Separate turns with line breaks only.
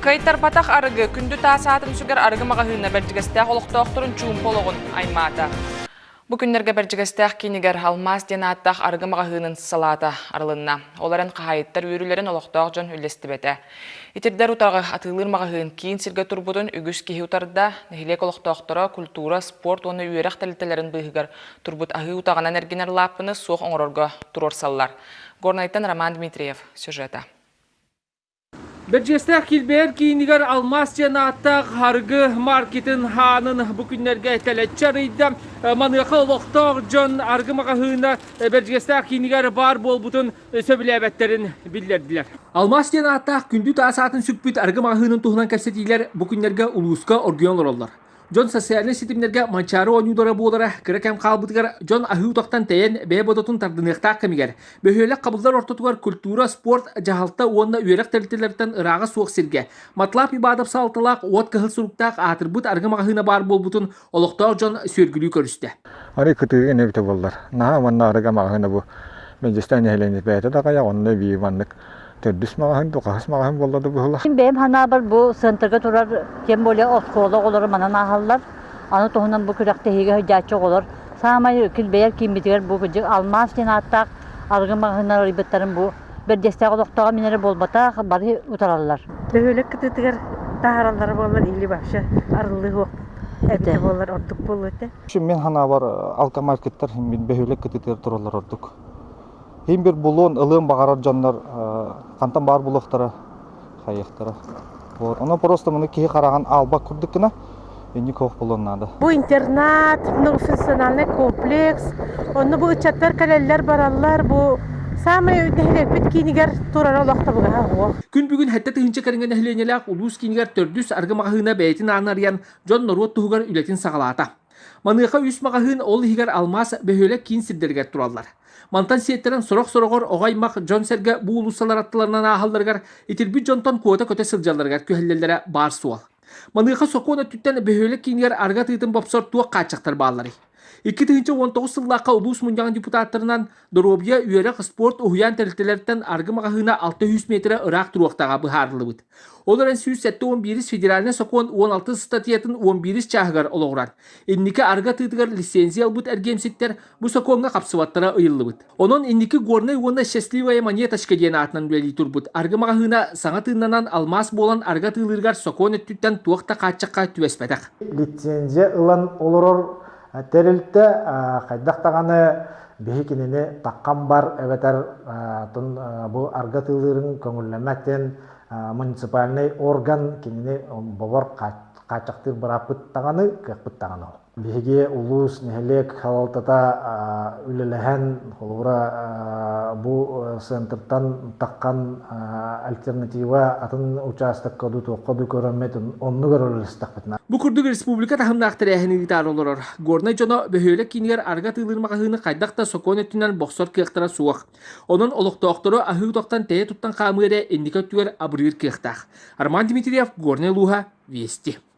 Кыайтарбатах арыгы, күндү таас аат үҥсүгэр арыгы маҕаһыына Бэрдьигэстээх олохтоохторун чуумпу олоҕун аймаата. Бу күннэргэ Бэрдьигэстээх киинигэр «Алмаас» диэн ааттаах арыгы маҕаһыынын салаата арылынна. Ол эрэн хаһаайыттар үөрүүлэрин олохтоох дьон үллэстибэтэ. Итирдэр утаҕы атыылыыр маҕаһыын киин сиргэ турбутун үгүс киһи утарда, нэһилиэк олохтоохторо культура, спорт уонна үөрэх тэрилтэлэрин быыһыгар турбут аһыы утаҕынан эргинэр лааппыны суох оҥорорго туруорсаллар. Горнайтан Роман Дмитриев сюжета.
Бэрдьиэстээх килбэйэр киинигэр «Алмаас» диэн ааттаах арыгы маркетын хаанын бу күннэргэ тэлэччи арыйда. Маныаха олохтоох дьон арыгы маҕаһыына Бэрдьиэстээх киинигэр баар буолбутун сөбүлээбэттэрин биллэрдилэр. «Алмаас» диэн ааттаах күндү таас аатын сүкпүт арыгы маҕаһыынын туһунан кэпсэтиилэр бу күннэргэ улууска оргуйан олороллор. Дьон социальнай ситимнэргэ Манчаары оонньуулара буолара кыра кэм хаалбытыгар дьон аһыы утахтан тэйэн бэйэ бодотун тардыныахтаах кэмигэр бөһүөлэк хабыллар ортотугар культура, спорт, дьаһалта уонна үөрэх тэрилтэлэриттэн ырааҕа суох сиргэ Матлаб Ибадов салалталаах уот кыһыл суруктаах аатырбыт арыгы маҕаһыына баар буолбутун олохтоох дьон сүөргүлүү көрүстэ. Арыгы кытыы
эбитэ буоллар. Наһаа уонна арыгы маҕаһыына бу Мэнчистай нэһилиэнньэ бэйэтэ да хайа онно бии маннык төрдүс маҕаһын, духаһыс маҕаһын буолла да быһылах. Мин бэйэм ханаабар бу
центрга турар, тем более оскуола оҕолоро манан ааһаллар. Аны туһунан бу күрэхтэһиигэ сылдьааччы оҕолор саамай кил бэйэр кииммитигэр бу кырдьык алмаас диэн ааттаах арыгы маҕаһыннар арыйбыттарын бу бэрдиэстээх олохтооҕо минэрэ буолбатах бары утараллар. Бөһүөлэк кытыытыгар
таһараллара буоллар или вообще арыллыһыах эбитэ буоллар ордук буолуо этэ. Мин ханаабар
алтамай кыттар бөһүөлэк кытыытыгар тураллар ордук. Иһин бир булуон, ылыан баҕарар дьоннор хантан баар булуохтара, хайыахтара. Вот. Оно просто муну киһи хараҕын албак курдук гына инник ох булуон наада. Бу интернат,
многофункциональный комплекс. Онно бу ыччаттар кэлэллэр бараллар. Бу саамай нэһилиэкпит киинигэр турара олохтобугаһа ох. Күн бүгүн хэтте тыһынча
кэриҥэ нэһилиэнньэлээх улуус киинигэр төрдүс аргы маҕаһыына бэйэтин ааны арыйан, дьон норуот туһугар үлэтин саҕалаата. Маныаха үс маҕаһыын ол иһигэр алмаас бөһүөлэк киин сирдэригэр тураллар. Мантан сиэттэрэн сорох-сороҕор оҕо-аймах дьон-сэргэ бу уулуссалар аттыларынан ааһалларыгар, итирбит дьонтон куота-көтө сылдьалларыгар күһэллэллэрэ баар суол. Маныаха сокуон өттүттэн бөһүөлэк киинигэр арыгы атыытын бопсор туох хааччахтар баалларый? Икки тыһыынча уон тоҕус сыллаахха улуус мунньаҕын депутаттарынан Доруобуйа, үөрэх, спорт уһуйаан тэрилтэлэртэн аргы маҕаһыына 600 метрэ ыраах туруохтаҕа быһаарыллыбыт. Ол эрэн сүүс сэттэ уон биирис федеральнай сокуон уон алтыс статьятын уон биирис чааһыгар олоҕурар. Инники аргы атыытыгар лицензия ылбыт эргиэмсиктэр бу сокуоҥҥа хапсыбаттара ыйыллыбыт. Онон инники горнай уонна счастливая монеточка диэн аатынан үлэлии турбут аргы маҕаһыына саҥа тыыннанан алмаас буолан аргы атыылыырыгар сокуон өттүттэн туох да хааччахха түбэспэтэх. Лицензия
ылан олорор Тэрилтэ хайдах даҕаны биһи кинини таккан бар эбэтэр бу арга тыылырын көҥүллэмэтин муниципальный орган кинини бобор хааччахтыыр бырааппыт даҕаны кыахпыт даҕаны ол биһиги улуус нэһилиэк салалтата үлэлэһэн Холобура, бу центртан таххан альтернатива атын учаастакка ду туохха ду көрөммөт онну көрөлөстөхпүтүн. Бу курдук республика
таһымнаах тэрээһини ыытаары олорор. Горнай дьоно бөһүөлэк киинигэр арга тыылыр магазины хайдах да сокуон өттүнэн бохсор кыахтара суох. Онон олохтоохтору аһыы токтан тэйэ туттан хаамыыра инники өттүгэр абырыыр кыахтаах. Арман Дмитриев, Горнай Луха, Вести.